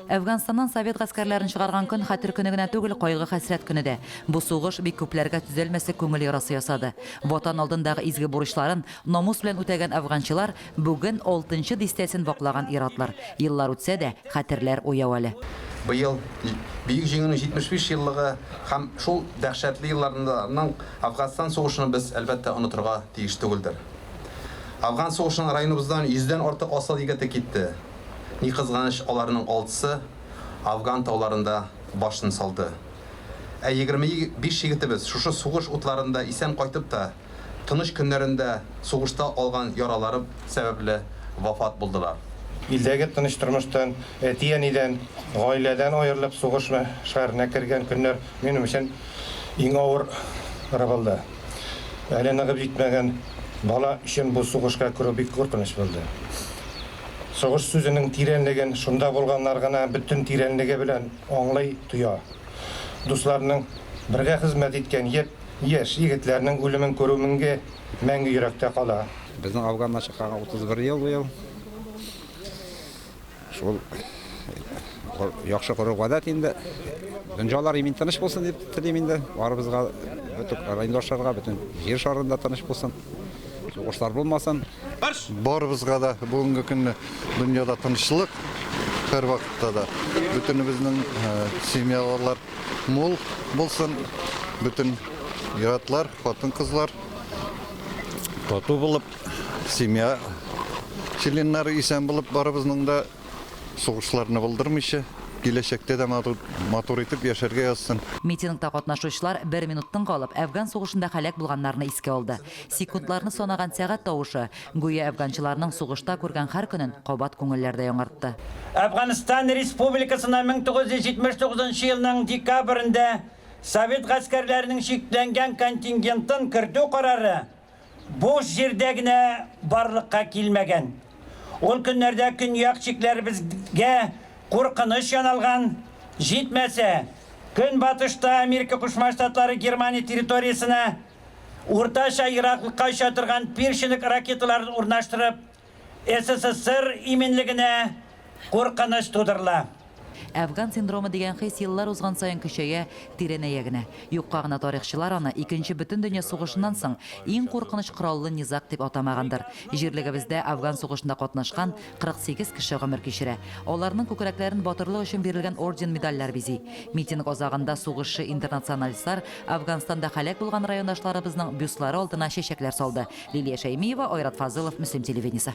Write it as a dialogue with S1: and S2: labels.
S1: Әфганстаннан совет гаскәрләрен чыгарган көн хәтер көне генә түгел, кайгы-хәсрәт көне дә. Бу сугыш бик күпләргә төзәлмәслек күңел ярасы ясады. Ватан алдындагы изге бурычларын намус белән үтәгән афганчылар бүген алтынчы дистәсен ваклаган ир-атлар. Еллар үтсә дә, хәтерләр уяу әле. Быел,
S2: Бөек Җиңүнең 75 еллыгы һәм шул дәһшәтле елларның Афганстан сугышын без, әлбәттә, онытырга тиеш түгелдер. Афган сугышына районыбыздан йөздән артык асыл егете китте. Ни кызганыч, аларның алтысы Афган тауларында башын салды. Ә егерме биш егетебез шушы сугыш утларында исән кайтып та, тыныч көннәрендә сугышта алган яралары сәбәпле вафат булдылар. Илдәге тыныч
S3: тормыштан, әти-әнидән, гаиләдән аерылып сугыш мәшгаренә кергән көннәр минем өчен иң авыры булды. Әле ныгып җитмәгән бала өчен бу сугышка керү бик куркыныч булды. Сугыш сүзенең тирәнлеген шунда булганнар гына бөтен тирәнлеге белән аңлый, тоя. Дусларның, бергә хезмәт иткән япь яшь егетләрнең үлемен күрү менге мәңге йөрәктә кала. Безнең Афганнан
S4: чыкканга 31 ел быел. Шул яхшы гореф-гадәт инде. Дөнҗалар имин-тыныч булсын дип телим инде барыбызга, бөтен райондашларга, бөтен җир шарында тыныч булсын. Сугышлар булмасын. Барыбызга
S5: да бүгенге көнне дөньяда тынычлык, һәр вакытта да бөтенебезнең семьялар мул булсын, бөтен иратлар, хатын-кызлар тату булып, семья членнары исән булып барыбызның да Сугышларны булдырмыйча, киләчәктә дә матур итеп яшәргә язсын. Митингта катнашучылар
S1: бер минут тын калып, Әфган сугышында һәлак булганнарны искә алды. Секундларны санаган сәгать тавышы, гүя әфганчыларның сугышта күргән һәр көнен кабат күңелләрдә яңартты. Әфганстан
S6: Республикасына 1979 нчы елның декабрендә совет гаскәрләренең чикләнгән контингентын кертү карары Буш җирдә генә барлыкка килмәгән. Ул көннәрдә көньяк чикләребезгә куркыныч яналган, җитмәсә, көнбатышта Америка Кушма Штатлары Германия территориясенә уртача ераклыкка оча торган пирчинок ракеталарын урнаштырып, СССР иминлегенә куркыныч тудырыла. Әфган
S1: синдромы дигән хис еллар узган саен көчәя, тирәнәя генә. Юкка гына тарихчылар аны Икенче бөтен дөнья сугышыннан соң иң куркыныч кораллы низаг дип атамагандыр. Җирлегебездә Афган сугышында катнашкан 48 кеше гомер кичерә. Аларның күкрәкләрен батырлык өчен бирелгән орден-медальләр бизи. Митинг азагында сугышчы-интернационалистлар Әфганстанда һәлак булган райондашларыбызның бюстлары алдына чәчәкләр салды. Лилия Шәймиева, Айрат Фазылов, Мөслим телевидениесе.